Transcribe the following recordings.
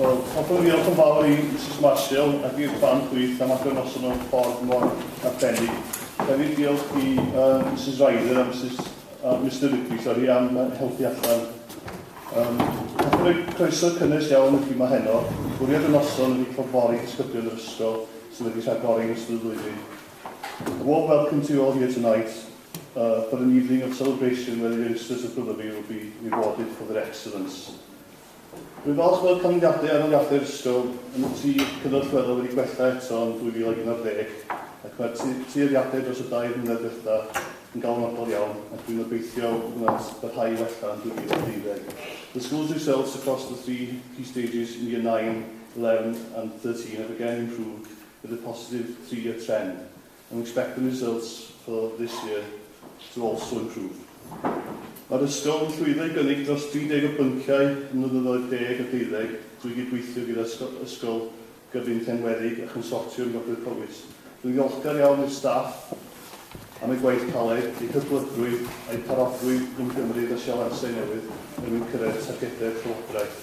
Wel, hoffwn i ddiolch yn fawr i Mrs Marshall ac i'r plant gwych am agor noson nhw'n ffordd mor arbennig. Hefyd diolch i uh, Mrs Ryder a Mrs uh, Mr Ripley, sori, am helpu allan. Um, hoffwn i croeso cynnes iawn i chi mae heno. Bwriad y noson ydy cael fori disgyblion yr ysgol sydd wedi rhagori yn ystod y flwyddyn. A warm welcome to you all here tonight uh, for an evening of celebration where the youngsters of Brotherby will be rewarded for their excellence. Rwy'n falch bod canlyniadau aroliadau'r ysgol yn y tri cyfnod chwelo wedi gwella eto yn 2011 ac mae'r tueddiadau dros y dair mlynedd diwetha yn galonogol iawn ac rwy'n obeithio bod yna'n parhau i wella yn 2012. The school's results across the three key stages in year 9 11 and 13 have again improved with a positive three year trend and we expect the results for this year to also improve. Mae'r ysgol yn llwyddo i gynnig dros 30 o bynciau ym mlynyddoedd deg a deuddeg drwy gydweithio gyda ysgol, ysgol gyfun Llenwedig a Chonsortiwm Gogledd Powys. Rwy'n ddiolchgar iawn i'r staff am eu gwaith caled, eu hyblygrwydd a'u parodrwydd i ymgymryd â sialansau newydd er mwyn cyrraedd targedau'r llywodraeth.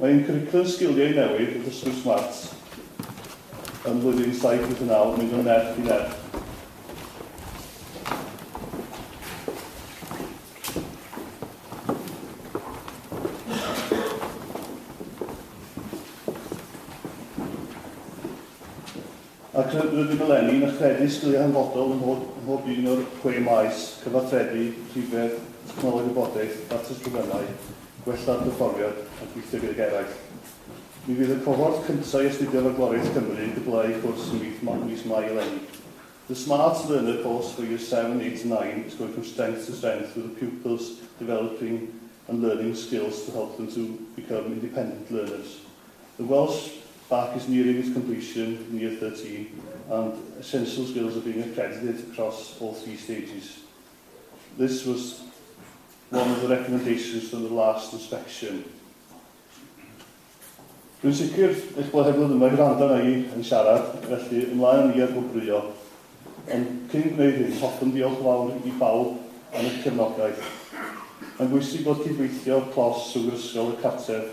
Mae ein cwricwlwm sgiliau newydd, Dysgu Smart, ym mhlwyddyn saith wyth a naw yn mynd o nerth i nerth. Ac rydym eleni yn y Credyd Sgiliau Hanfodol ym mhob un o'r chwe maes, cyfathrebu, rhifedd, technoleg wybodaeth, datrys problemau, gwella'r perfformiad a gweithio gydag eraill. Mi fydd y cohort cyntaf i astudio Fagwraeth Cymru yn cwblhau cwrs ym mis Mai eleni. The Smart Learner Course for Years Seven, Eight and Nine is going from strength to strength with the pupils developing and learning skills to help them to become independent learners. The Welsh Bark is nearing its completion, near thirteen, and essential skills are being accredited across all three stages. This was one of the recommendations from the last inspection. Dwi'n sicr eich bod hefyd yma i wrando arna i yn siarad, felly ymlaen â ni ar gwobrwyo. Ond cyn gwneud hyn, hoffwn ddiolch fawr i bawb am eich cefnogaeth. Mae'n bwysig bod cydweithio clos rhwng yr ysgol, y cartref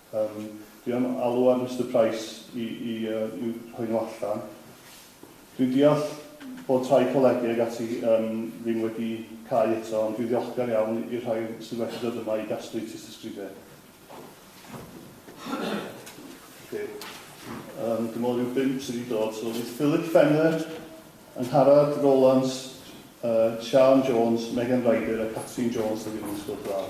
Yym, dwi am alw ar Mister Price i i yy i'w rhoi nhw allan. Dwi'n deall bod rhai colege ag ati yym ddim wedi cau eto, ond dwi'n ddiolchgar iawn i'r rhai sydd wedi dod yma i gasglu tystysgrifau. Ocê. Yym, dwi'n meddwl ryw bump sydd wedi dod. So, fydd Philip Fenner, Angharad Rowlands, Siân Jones, Megan Ryder a Catrin Jones o Gymru Sgwrs Braf.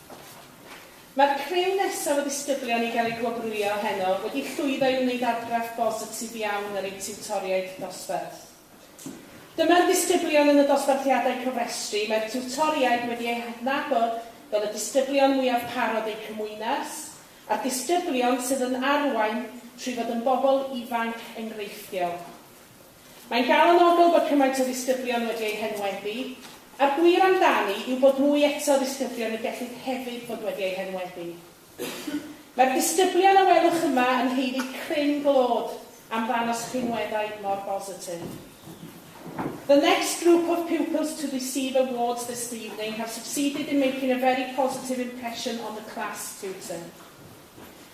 Mae'r criw nesaf o ddisgyblion i gael eu gwobrwyo heno wedi llwyddo i wneud argraff bositif iawn ar eu tiwtoriaid dosbarth. Dyma'r disgyblion yn y dosbarthiadau cofrestru, mae'r tiwtoriaid wedi eu hadnabod fel y disgyblion mwyaf parod eu cymwynas, a'r disgyblion sydd yn arwain trwy fod yn bobl ifanc enghreifftiol. Mae'n galonogol bod cymaint o ddisgyblion wedi eu henwebu, a'r gwir amdani yw bod mwy eto o ddisgyblion y gellid hefyd fod wedi eu henwebu. Mae'r disgyblion a welwch yma yn haeddu cryn glod am ddangos rhinweddau mor bositif. The next group of pupils to receive awards this evening have succeeded in making a very positive impression on the class, tutor.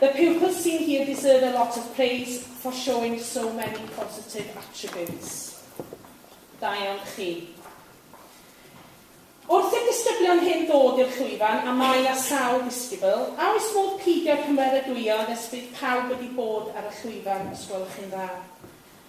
The pupils seen here deserve a lot of praise for showing so many positive attributes. Da iawn chi. Wrth i'r disgyblion hyn ddod i'r llwyfan, a mae a sawl ddisgybl, a oes modd peidio cymeradwyo nes bydd pawb wedi bod ar y llwyfan os gwelwch chi'n dda?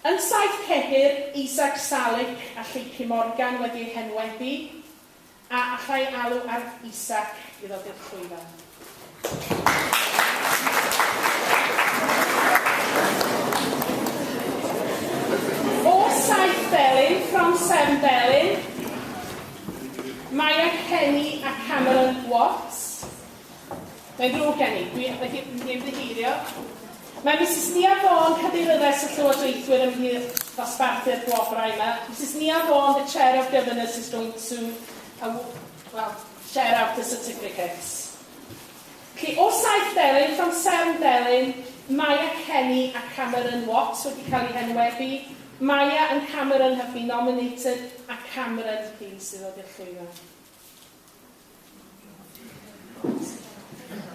Yn saith cedr, Isac Salik a Lleucu Morgan wedi eu henwebu, a allai alw ar Isac i ddod i'r llwyfan. O saith felin, From Seven Felin, Maia Kenny a Cameron Watts, Mae'n ddrwg gen i, dwi wedi wedi ymddiheurio. Mae Misus Nia Vaughan, cadeiryddais y llywodraethwyr ymhlith ddosbarthu'r gwobrau yma. Misus Nia Vaughan, the chair of governors, is going to uh, well, share out the certificates. Felly, o saith delyn, from seven delyn, Maya Kenny a Cameron Watts wedi cael eu henwebu. Maya and Cameron have been nominated, a Cameron ydy sydd wedi llwyddo.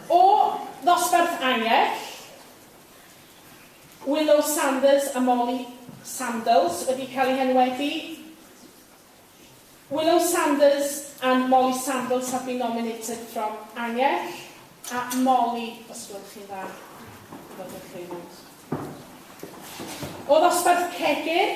O ddosbarth Angell, Willow Sanders a Molly Sandles wedi cael eu henwebu Willow Sanders and Molly Sandles have been nominated from Angell a Molly, os gwelwch chi'n dda, i ddod i'r llwyfan. O ddosbarth Cegir,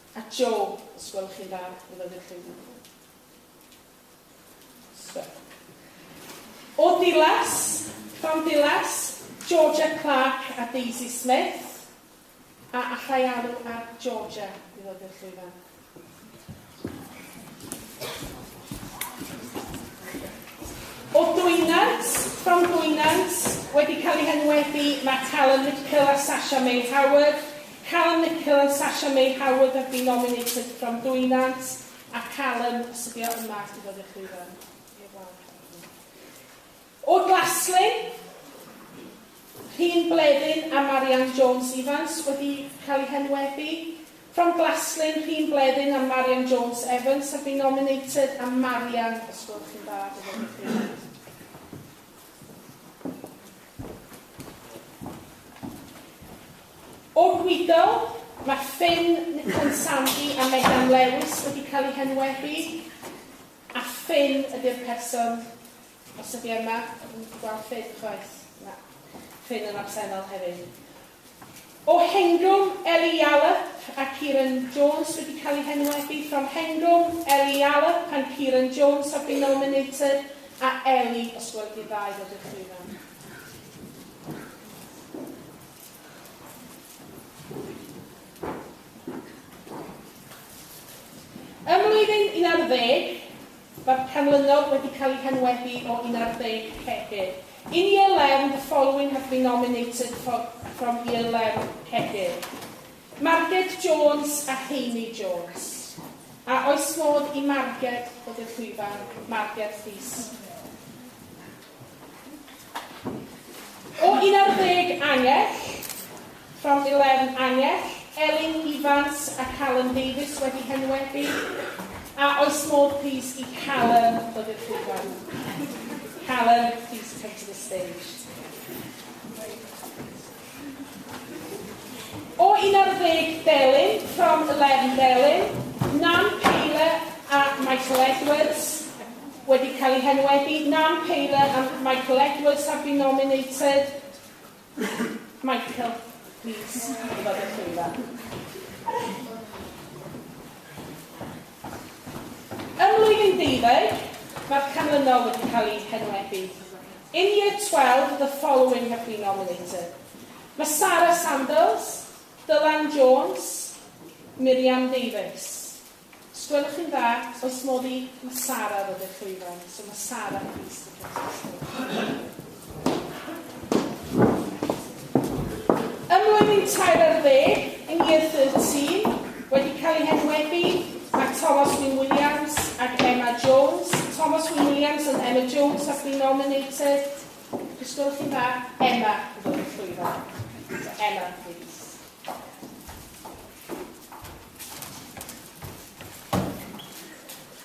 A Jo, os gwelwch chi'n dda, fe fyddwch chi'n dda. Stop. O Dilas, Fam Dilas, Georgia Clark a Daisy Smith, a allai alw ar Georgia i ddod i'r llwyfan. O Dwynant, from Dwynant, wedi cael ei henwebu mae Talon Mitchell a Sasha May Howard, Callum Nicol and Sasha May Howard have been nominated from Dwy Nant a Callum os ydi o yma i ddod i'r llwyfan i'r wal cefn. O Glaslyn, Rhun Bleddyn a Marianne Jones Evans wedi cael eu henwebu. From Glaslyn, Rhun Bleddyn and Marianne Jones Evans have been nominated a Marianne os gwelwch chi'n dda i ddod i'r llwyfan. O'r gwydol, mae ffin Nickon Sandy a Megan Lewis wedi cael eu henwebu, a ffin ydy'r person, os ydy e yma, dwi'm yn gallu gweld ffin chwaith, na, ffin yn absennol hefyd. O Hengwm, Ellie Yallop a Kieran Jones wedi cael eu henwebu, from Hengwm, Ellie Yallop and Kieran Jones have been nominated, a Ellie, os gweli di'n dda i ddod i'r llwyfan. Ym mlwyddyn un ar ddeg, mae'r canlynol wedi cael eu henwebu o un ar ddeg cegin. In year learn, the following have been nominated for from year learn cegin. Marged Jones a Heini Jones. A oes modd i Marged ddod i'r llwyfan? Marged, plîs. O 11 Angell, from 11 Angell, Elin Evans a Callum Davies wedi henwebu, a oes modd plîs i Callum ddod i'r llwyfan? Callum, please come to the stage. O 11 Delyn, From 11 Delyn, Nan Peyle a Michael Edwards wedi cael eu henwebu, Nan Peyle and Michael Edwards have been nominated. Michael, please, i fod y llwyfa. Ym mlwyddyn deuddeg, mae'r canlynol wedi cael eu henwebu. In year twelve the following have been nominated, Mae Sarah Sandals, Dylan Jones, Miriam Davies. Os gwelwch chi'n dda, oes modd i Mae Sarah ddod i'r llwyfan? So mae Sarah plîs to come to the stage. Ym mlwyddyn tair ar ddeg, yn Year Thirteen, wedi cael eu henwebu, mae Thomas Wyn Williams ac Emma Jones, Thomas Wyn Williams and Emma Jones have been nominated, os gwelwch chi'n dda, Emma yn dod yn llwyfan. So Emma, please.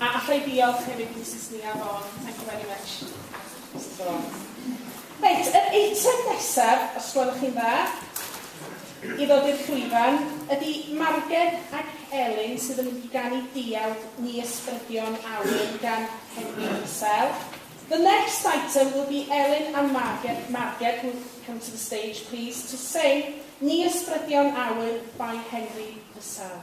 A alla i ddiolch hefyd i Misus Nia Vaughan, thank you very much, Misus Vaughan. Reit, yr eitem nesaf, os gwelwch chi'n dda, i ddod i'r llwyfan, ydy Margen ac Elin sydd yn mynd i ganu Diawd ni Ysbrydion Awen gan Henry Purcell. The next item will be Elin and Margen, Margen who come to the stage please to sing Ni Ysbrydion Awen by Henry Purcell.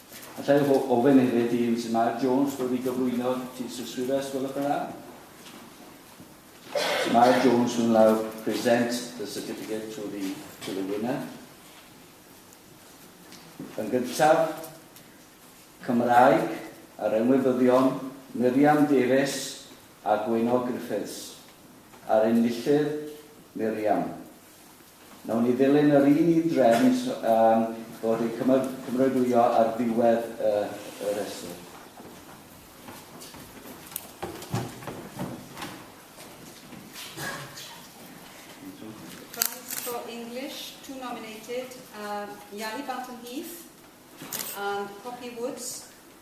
Alla i ofyn hefyd i Misus Mair Jones ddod i gyflwyno'r tystysgrifau os gwelwch yn dda. Misus Mair Jones will now present the certificate to the, to the winner. Yn gyntaf, Cymraeg a'r enwebyddion Miriam Davies a Gwyno Griffiths. A'r enillydd, Miriam. Wnawn ni ddilyn yr un un drefn am bod yn cymeradwyo ar ddiwedd y, y rhestr. Yali Barton Heath and Poppy Woods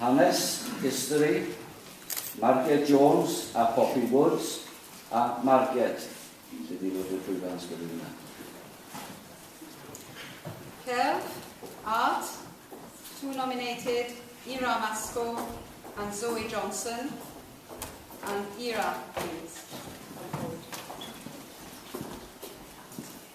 Hanes, History, Marget Jones a Poppy Woods a Marget, sydd wedi bod i'r llwyfan ysgrifennu yna. Cerdd, Art, two nominated, Ira Masco and Zoe Johnson, and Ira, please.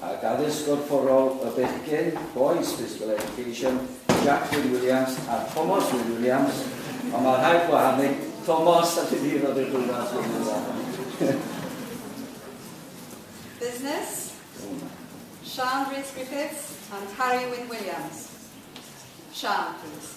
ac Addysg Gorfforol y Bechgyn, Boys Physical Education, Jack Wyn Williams a Thomas Wyn Williams, ond mae rhaid gwahanu Thomas a ti'n hir o dy gwybod Wyn Williams. Business, Sian Rhys Griffiths and Harry Wyn Williams. Sian, please.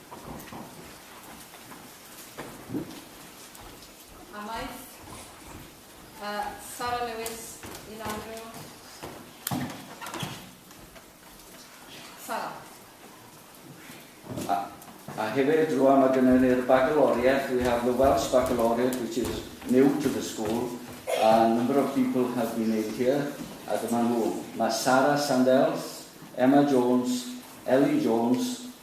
Amaeth. Uh, Sara Lewis, un Andrew. Sara. A, a hefyd rwan mae gennym ni'r baccalaureate, we have the Welsh baccalaureate which is new to the school, a number of people have been in here, a dyma nhw. Mae Sara Sandels, Emma Jones, Ellie Jones,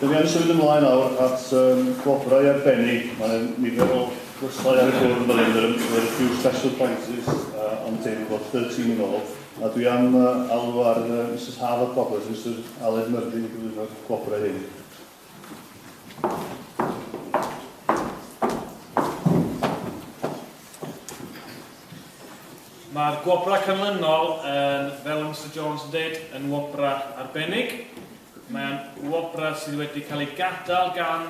Dyn ni yn symud ymlaen nawr at um, gwobrau arbennig. Mae nifer o gwrsau ar y bwrdd yn fan hyn, there are a few special prizes uh, on the table, about 13 yn ôl. A dwi am uh, alw ar uh, Mrs Harvard Roberts, Mr Aled Murphy i gyflwyno'r gwobrau hyn. Mae'r gwobrau canlynol, yn, fel y Mr Jones yn dweud, yn wobrau arbennig. Mae'n wobrau sydd wedi cael ei gadael gan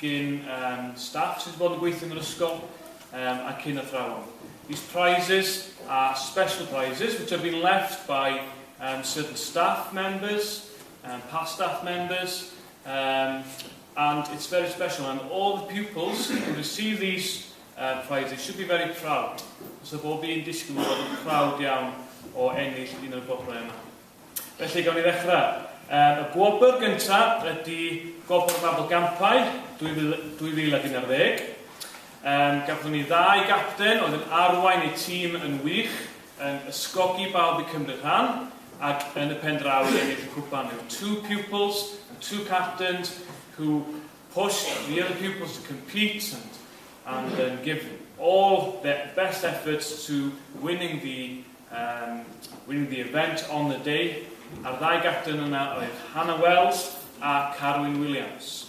gyn um, staff sydd wedi bod yn gweithio yn yr ysgol um, ac yn athrawon. These prizes are special prizes which have been left by um, certain staff members and past staff members um, and it's very special and all the pupils who receive these um, prizes should be very proud. So bob un disgwyl bod yn proud iawn o ennill un o'r bobl yma. Felly, gawn ni ddechrau. Um, y gwobr gyntaf ydy Gofr Mabel Gampau 2011. Um, gafon ni ddau gapten oedd yn arwain eu tîm yn wych, yn ysgogi bawb i cymryd rhan ac yn y pen draw i ennill y cwpan. There were two pupils and two captains who pushed the other pupils to compete and, and um, give all their best efforts to winning the, um, winning the event on the day. A'r ddau gapten yna oedd Hannah Wells a Carwyn Williams.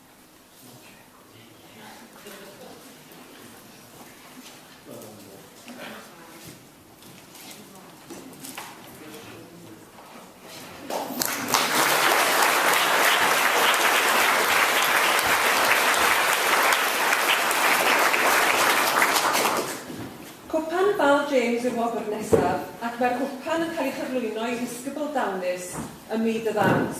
James i'r wobr nesaf ac mae'r gwpan yn cael ei chyflwyno i ddisgybl dawnus ym myd y ddawns,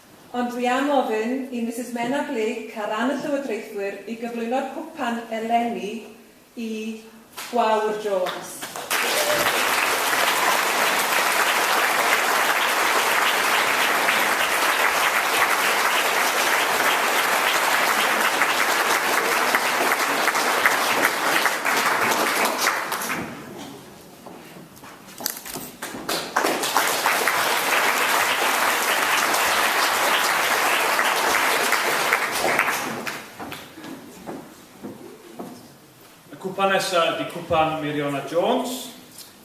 Ond dwi am ofyn i Misus Menna Blake ar ran y Llywodraethwyr i gyflwyno'r cwpan eleni i Gwawr Jones. Y cwpan nesaf ydy cwpan Meiriona Jones.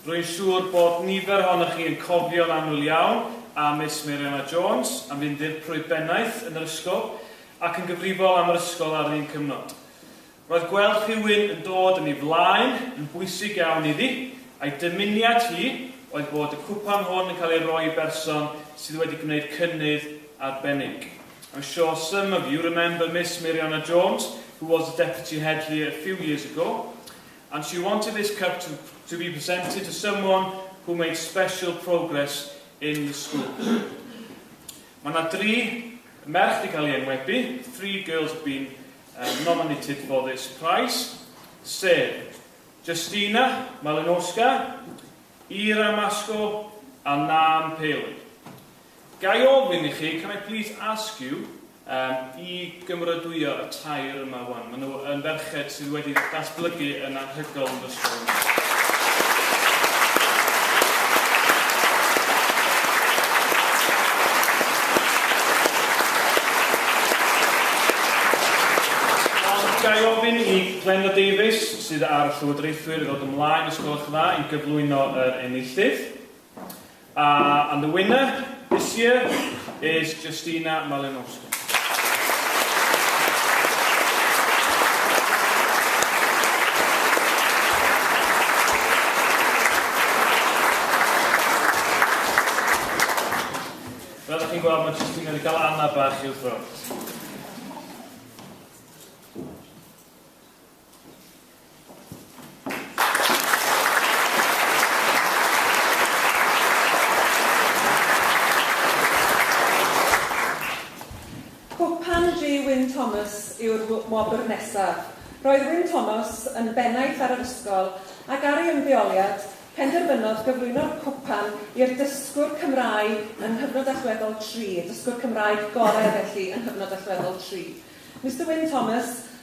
Rwy'n siŵr bod nifer ohonoch chi yn cofio'n aml iawn am Miss Meiriona Jones, am fynd i'r prwy bennaeth yn yr ysgol ac yn gyfrifol am yr ysgol ar yr un cyfnod. Roedd gweld rhywun yn dod yn ei flaen yn bwysig iawn iddi, a'i dymuniad hi oedd bod y cwpan hwn yn cael ei roi i berson sydd wedi gwneud cynnydd arbennig. I'm sure some of you remember Miss Meiriona Jones, who was the Deputy Head here a few years ago, and she wanted this cup to to be presented to someone who made special progress in the school. Mae yna dri merch wedi cael ei enwebu, three girls have been um, nominated for this prize, sef Justina Malinowska, Ira Masco a Nam Palin. Ga i ofyn i chi, can I please ask you, um, i gymrydwyo y tair yma wan. Maen nhw yn ferched sydd wedi datblygu yn anhygoel yn fy Ga i ofyn i Glenda Davies, sydd ar Llywodraethwyr, i ddod ymlaen os gwelwch yn dda, i gyflwyno yr enillydd. Uh, and the winner this year is Justina Malinowska. chi'n gweld, mae jyst yn cael ei gael anna bach i'w ffrwnt. Cwpan du Wyn Thomas yw'r wobr nesaf. Roedd Wyn Thomas yn bennaeth ar yr ysgol ac ar ei ymddeoliad, penderfynodd gyflwyno'r cwpan i'r dysgwr Cymraeg yng nghyfnod allweddol tri, y dysgwr Cymraeg gorau felly yng nghyfnod allweddol tri. Mister Wyn Thomas,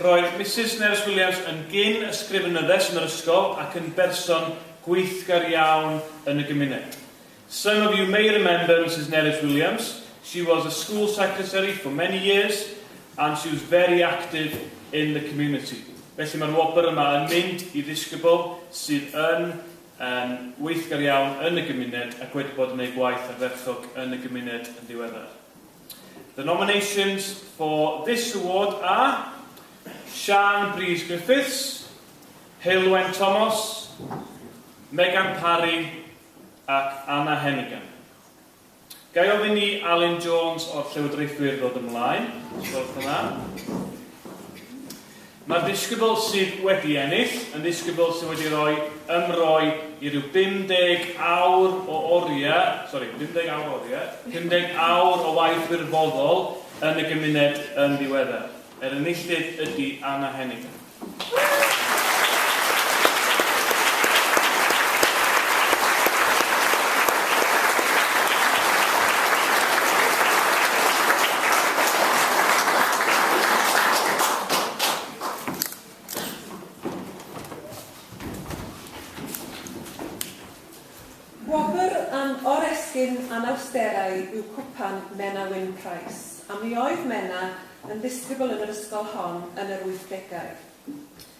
Roedd Misus Nerys Williams yn gyn ysgrifenyddes yn yr ysgol ac yn berson gweithgar iawn yn y gymuned. Some of you may remember Misus Nerys Williams, she was a school secretary for many years and she was very active in the community. Felly mae'r wobr yma yn mynd i ddisgybl sydd yn yn weithgar iawn yn y gymuned ac wedi bod yn eu gwaith ardderchog yn y gymuned yn ddiweddar. The nominations for this award are Siân Brys Griffiths, Heulwen Tomos, Megan Parry ac Anna Hennigan. Ga i ofyn i Alun Jones o'r Llywodraethwyr ddod ymlaen, os gwelwch yn dda. Mae'r ddisgybl sydd wedi ennill yn ddisgybl sydd wedi rhoi ymroi i ryw 50 awr o oriau, sori, 50 awr o oriau, 50 awr o waith wirfoddol yn y gymuned yn ddiweddar. Yr enillydd ydy Anna Henning. Gwobr am oresgyn anawsterau yw Cwpan Menna Wyn Price, a mi oedd Menna yn ddisgybl yn yr ysgol hon yn yr wythdegau.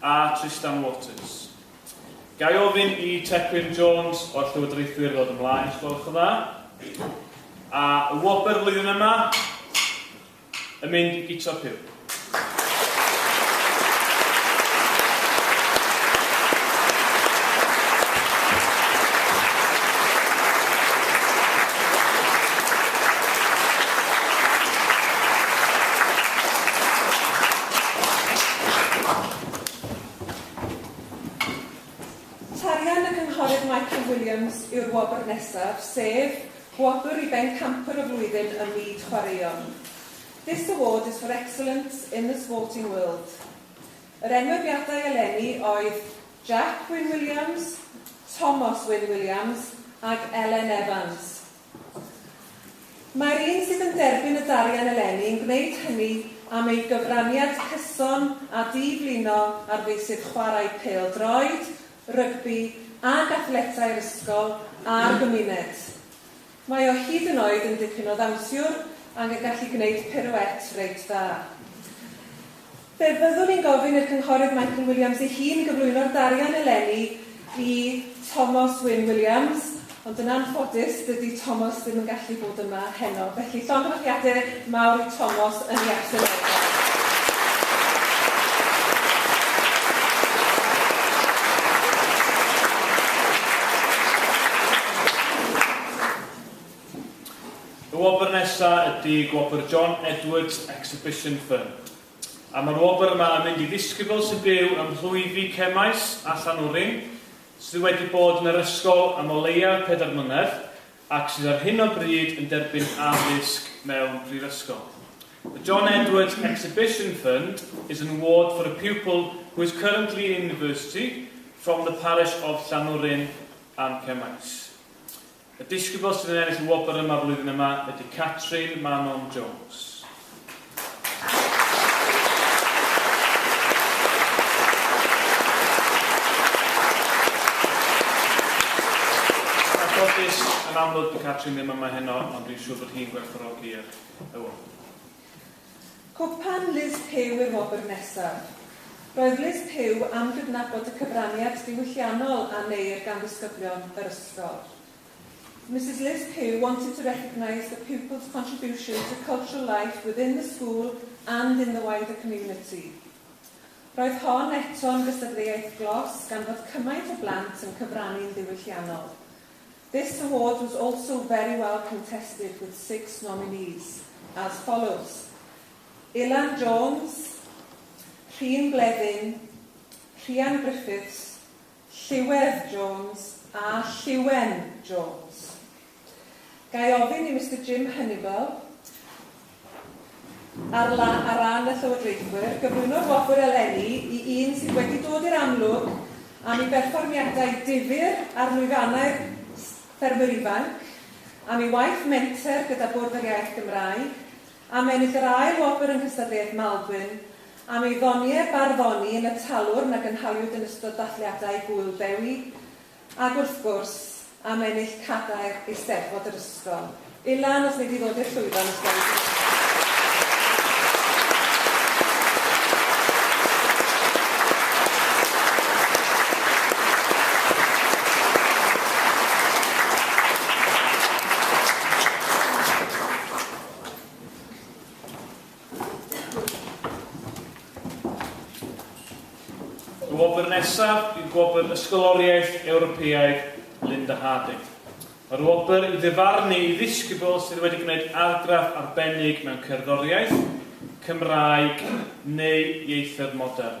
a Trystan Waters. Ga i ofyn i Tecwyn Jones o'r Llywodraethwyr ddod ymlaen, os gwelwch yn dda. A y wobr flwyddyn yma yn mynd i Guto Pugh. Tarian y Cynghorydd Michael Williams yw'r wobr nesaf, sef, Gwobr i Bencampwr y Flwyddyn ym Myd Chwaraeon. This award is for excellence in the sporting world. Yr enwebiadau eleni oedd Jack Wyn Williams, Tomos Wyn Williams ac Elen Evans. Mae'r un sydd yn derbyn y darian eleni yn gwneud hynny am ei gyfraniad cyson a di-flino ar feysydd chwarae pêl-droed, rygbi ac athletau'r ysgol a'r gymuned. Mae o hyd yn oed yn dipyn o ddawnsiwr ac yn gallu gwneud pirouette reit dda. Fe fyddwn i'n gofyn i'r Cynghorydd Michael Williams ei hun gyflwyno'r darian eleni i Tomos Wyn Williams, ond yn anffodus, dydy Tomos ddim yn gallu bod yma heno. Felly, llongyfarchiade mawr i Tomos yn ei absenoldeb. Y wobr nesa ydi gwobr John Edwards Exhibition Fund. A ma'r wobr yma yn mynd i ddisgybl sy'n byw ym mhlwyfi Cemaes a Llanwrin sydd wedi bod yn yr ysgol am o leia pedair mlynedd ac sydd ar hyn o bryd yn derbyn addysg mewn prifysgol. The John Edwards Exhibition Fund is an award for a pupil who is currently in university from the parish of Llanwrin and Cemaes. Y disgybl sydd yn ennill y wobr yma flwyddyn yma ydy Catrin Manon Jones. Anffodus, yn amlwg bod Catrin ddim yma heno, ond dwi'n siŵr bod hi'n gwerthfawrogi'r y wobr. Cwpan Liz Pugh i'r wobr nesaf. Roedd Liz Pugh am gydnabod y cyfraniad diwylliannol a wneir gan ddisgyblion yr ysgol. Misus Liz Pugh wanted to recognise the pupils contribution to cultural life within the school and in the wider community. Roedd hon eto'n gystadleuaeth glos gan fod cymaint o blant yn cyfrannu'n ddiwylliannol. This award was also very well contested with six nominees as follows, Ilan Jones, Rhun Bleddyn, Rhian Griffiths, Llywerdd Jones a Lliwen Jones. Ga i ofyn i Mister Jim Hunniball, Ar ran y Llywodraethwyr, gyflwyno'r wobr eleni i un sydd wedi dod i'r amlwg am ei berfformiadau difyr ar lwyfannau'r Ffermwyr Ifanc, am ei waith menter gyda Bwrdd yr Iaith Gymraeg, am ennill yr ail wobr yng nghystadleuaeth Maldwyn, am ei ddoniau barddoni yn y talwrn a gynhaliwyd yn ystod dathliadau Gŵyl Dewi, Ac wrth gwrs, am ennill cadair Eisteddfod yr ysgol. Ilan, os wnei di ddod i'r llwyfan os gweli di. Y wobr nesaf yw Gwobr Ysgoloriaeth Ewropeaidd Linda Harding. Mae'r wobr i ddyfarnu i ddisgybl sydd wedi gwneud argraff arbennig mewn cerddoriaeth, Cymraeg neu ieithoedd modern.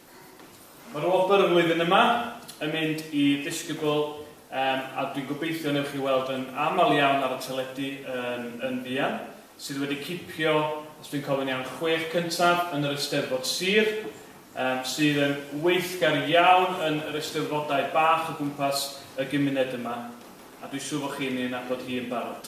Mae'r wobr y flwyddyn yma yn mynd i Ddisgybl yym a dwi'n gobeithio newch chi weld yn aml iawn ar y teledu yn yn fuan, sydd wedi cipio, os dwi'n cofio'n iawn, chwech cyntaf yn yr Eisteddfod Sir, yym sydd yn weithgar iawn yn yr Eisteddfodau bach o gwmpas y gymuned yma, a dwi'n siŵr fod chi'n ei nabod hi yn barod.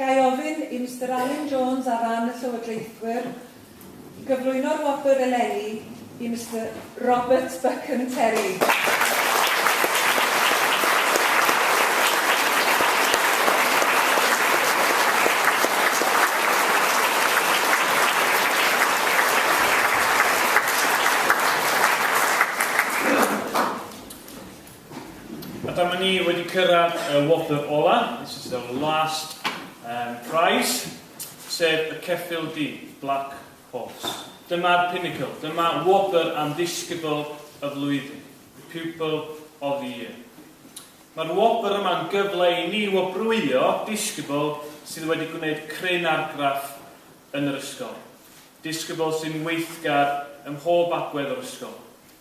Ga i ofyn i Mister Alun Jones ar ran y Llywodraethwyr i gyflwyno'r wobr eleni i Mister Robert Buchan Terry. A dyma ni wedi cyrraedd y wobr ola, this is the last um, prize, sef y ceffyl du, Black Horse. Dyma'r pinnacle, dyma wobr am ddisgybl y flwyddyn, the pupil of the year. Mae'r wobr yma'n gyfle i ni wobrwyo disgybl sydd wedi gwneud cryn argraff yn yr ysgol. Disgybl sy'n weithgar ym mhob agwedd o'r ysgol.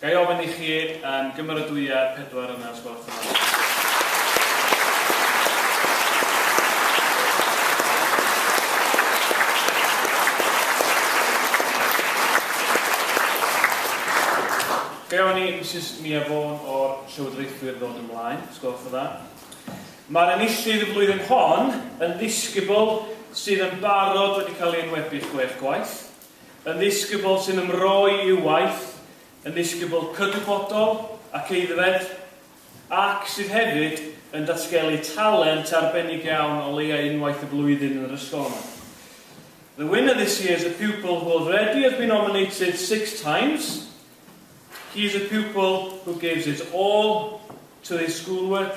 Ga i ofyn i chi um, gymeradwya pedwar yna os gwelwch yn dda. Ga i ofyn i Mrs Mia Vaughan o'r Llywodraethwyr ddod ymlaen, os gwelwch yn dda. Mae'r enillydd y flwyddyn hon yn ddisgybl sydd yn barod wedi cael ei enwebu chwech gwaith. Yn ddisgybl sy'n ymroi i'w waith, yn ddisgybl cydwybodol ac aeddfed, ac sydd hefyd yn datgelu talent arbennig iawn o leia unwaith y flwyddyn yn yr ysgol yma. The winner this year is a pupil who already has been nominated six times. He is a pupil who gives his all to his schoolwork,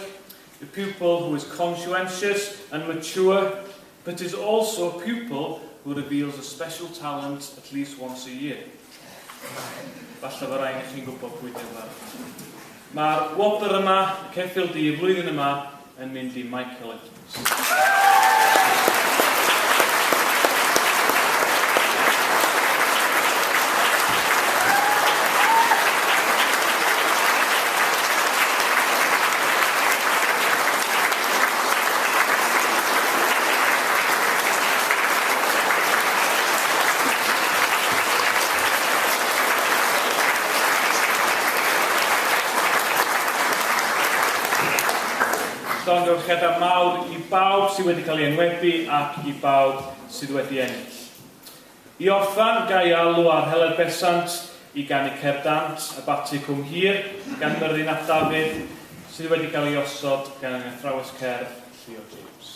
a pupil who is conscientious and mature, It is also a pupil who reveals a special talent at least once a year. Falle fo rain i chi'n gwybod pwy di'r ferch. Mae'r wobr yma, y ceffyl du y flwyddyn yma, yn mynd i Michael Edwards. Llongyfarchiadau mawr i bawb sydd wedi cael ei enwebu ac i bawb sydd wedi ennill. I orffen, ga i alw ar Heledd Besant i ganu Cer Dant a Bati Cwm Hir gan Myrddin ap Dafydd, sydd wedi cael ei osod gan ein athrawes cerdd, Llio James.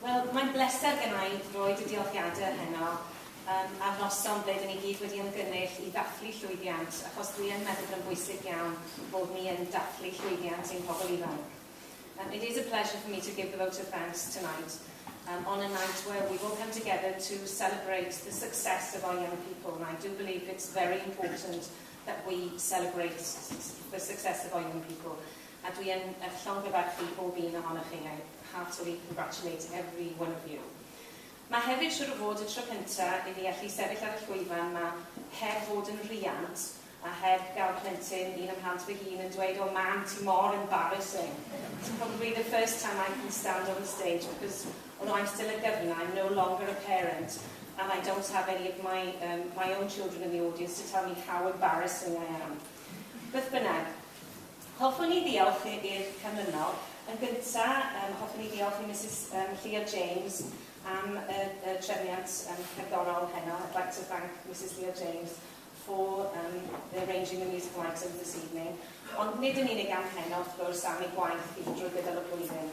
Wel, mae'n bleser genna i roid y diolchiadau heno yym ar noson ble 'dyn ni gyd wedi ymgynnull i ddathlu llwyddiant, achos dwi yn meddwl bod o'n bwysig iawn bod ni yn dathlu llwyddiant ein pobl ifanc. Um, it is a pleasure for me to give the vote of thanks tonight um, on a night where we've all come together to celebrate the success of our young people, and I do believe it's very important that we celebrate the success of our young people. A dwi yn eich llongyfarchu pob un ohonoch chi, I heartily congratulate every one of you. Mae hefyd siŵr o fod y tro cynta i fi allu sefyll ar y llwyfan 'ma heb fod yn riant a heb gael plentyn, un ym mhlant fy hun, yn dweud oh mam ti mor embarrassing. It's probably the first time I can stand on the stage because although I'm still a gyfna I'm no longer a parent and I don't have any of my um, my own children in the audience to tell me how embarrassing I am. Beth bynnag, Hoffwn i ddiolch i'r canlynol. Yn gyntaf, yym, hoffwn i ddiolch i Misus yym Llia James am y y trefniant yym cerddorol heno. I'd like to thank Misus Llia James for yym arranging the musical items this evening. Ond nid yn unig am heno, wrth gwrs, am ei gwaith hi drwy gydol y flwyddyn.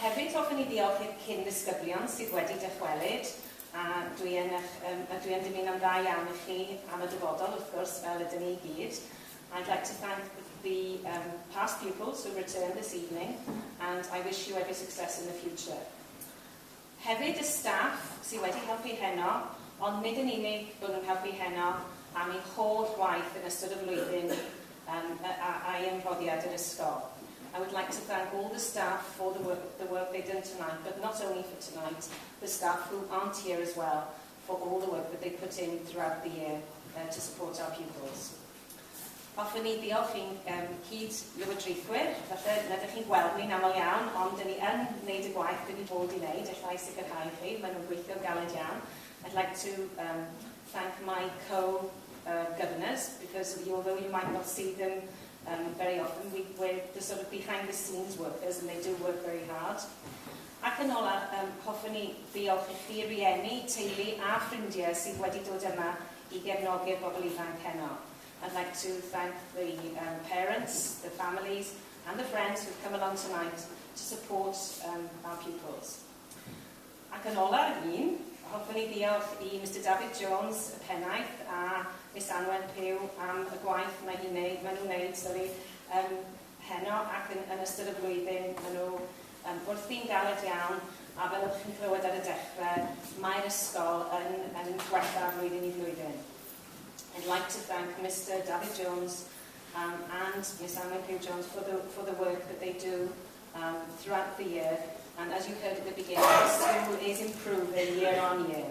Hefyd hoffen i ddiolch i'r cyn-ddisgyblion sydd wedi dychwelyd, a dwi yn eich yym a dwi yn dymuno'n dda iawn i chi am y dyfodol wrth gwrs, fel ydyn ni i gyd. I'd like to thank the um, past pupils who returned this evening and I wish you every success in the future. Hefyd y staff sydd wedi helpu heno, ond nid yn unig bod nhw'n helpu heno, am eu holl waith yn ystod y flwyddyn yym a ai yn rhoddiad yr ysgol. I would like to thank all the staff for the work the work they've done tonight, but not only for tonight, the staff who aren't here as well for all the work that they put in throughout the year to support our pupils. Hoffwn i ddiolch i'n um, cyd-lywodraethwyr, falle na ydych chi'n gweld ni'n aml iawn, ond dyn ni yn gwneud y gwaith dyn ni bod i wneud, efallai i sicrhau chi, maen nhw'n gweithio'n galed iawn. I'd like to um, thank my co-governors, uh, because although you might not see them um, very often, we, we're the sort of behind the scenes workers and they do work very hard. Ac yn ola, um, hoffwn i ddiolch i chi rieni, teulu a ffrindiau sydd wedi dod yma i gefnogi'r bobl ifanc heno. I'd like to thank the um, parents, the families and the friends who've come along tonight to support um, our pupils. Ac yn ola, un, hoffwn i ddiolch i Mr David Jones, y pennaeth, a Miss Anwen Pew am y gwaith mae hi'n neud, maen nhw'n neud, sori, um, heno ac yn, yn ystod y flwyddyn, maen nhw Yym, wrthi'n galed iawn, a fel o'ch chi'n clywed ar y dechre, mae'r ysgol yn yn gwella flwyddyn i flwyddyn. I'd like to thank Mister Dafydd Jones um, and Miss Anwen Pugh Jones for the, for the work that they do um, throughout the year, and as you heard at the beginning, the school is improving year on year.